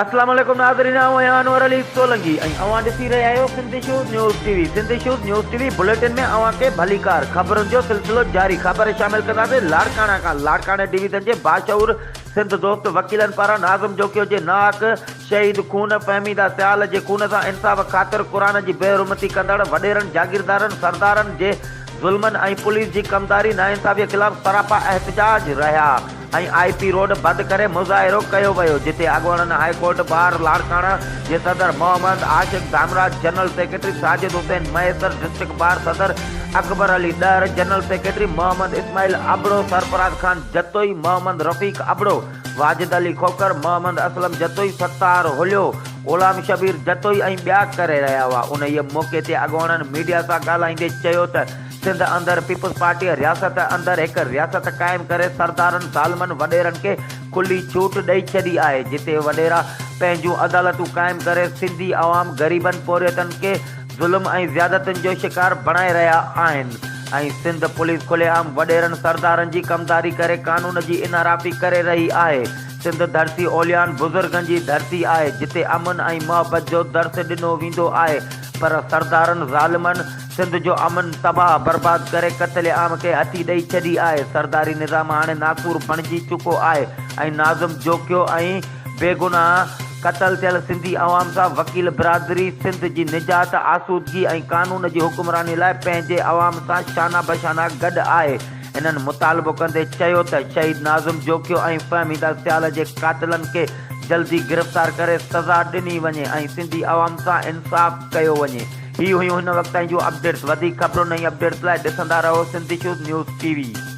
السلام عليڪم ناظرين آئون آهيان انور علي سولنگي ۽ اوهان ڏسي رهيا آهيو سنڌي شوز نيوز ٽي وي سنڌي شوز نيوز ٽي وي بليٽن ۾ اوهان کي ڀليڪار خبرن جو سلسلو جاري خبر شامل ڪنداسين لاڙڪاڻا کان لاڙڪاڻي ڊويزن جي باشعور سنڌ دوست وڪيلن پاران ناظم جوکيو جي ناحق شهيد خون فهميده سيال جي خون سان انصاف خاطر قرآن جي بي حرمتي ڪندڙ وڏيرن جاگيردارن سردارن جي ظلمن ۽ پوليس جي ڪمداري ناانصافي خلاف سراپا احتجاج رهيا ۽ آء پي روڊ بند ڪري مظاهرو ڪيو ويو جتي اڳوڻن هاء ڪورٽ بار لاڙڪاڻه جي صدر Muhammad Ashiq Dhamraj general secretary Sajid Hussain Mahesar district bar صدر اڪبر علي ڏهر جنرل سيڪريٽري محمد اسماعيل ابڙو سرفراز خان جتوئي محمد رفيق ابڙو واجد علي کوکر، محمد اسلم جتوئي، ستار هوليو، غلام شبير جتوئي ۽ ٻيا ڪري رهيا هئا. انهيء موقعي تي اڳواڻن ميڊيا سان ڳالهائيندي چيو ته سنڌ اندر پيپلز پارٽيء رياست اندر هڪ رياست قائم ڪري سردارن ظالمن وڏيرن کي کلي ڇوٽ ڏئي ڇڏي آهي جتي وڏيرا پنهنجون عدالتون قائم ڪري سنڌي عوام غريبن پورهيتن کي ظلم ۽ زيادتين جو شڪار بڻائي رهيا آهن ۽ سنڌ پوليس کلي عام وڏيرن سردارن جي ڪمداري ڪري قانون جي انحرافي ڪري رهي آهي سنڌ ڌرتي اوليائن بزرگن جي ڌرتي آهي جتي امن ۽ محبت جو درس ڏنو ويندو آهي پر سردارن ظالمن سنڌ جو امن تباهه برباد ڪري قتل عام کي هٿي ڏئي ڇڏي آهي سرداري نظام هاڻي ناڪور بڻجي چڪو آهي ۽ ناظم جوکيو ۽ بيگناهه قتل ٿيل سنڌي عوام سان وڪيل برادري سنڌ جي نجات، آسودگي ۽ قانون جي حڪمراني لاء پنهنجي عوام سان شانه بشانه گڏ آهي. هنن مطالبو ڪندي چيو ته شهيد ناظم جوکيو ۽ فهميده سيال جي قاتلن کي جلدي گرفتار ڪري سزا ڏني وڃي ۽ سنڌي عوام سان انصاف ڪيو وڃي. هي هيون هن وقت تائين جون اپڊيٽس وڌيڪ خبرن ۽ اپڊيٽس لاء ڏسندا رهو Sindh issues news TV V.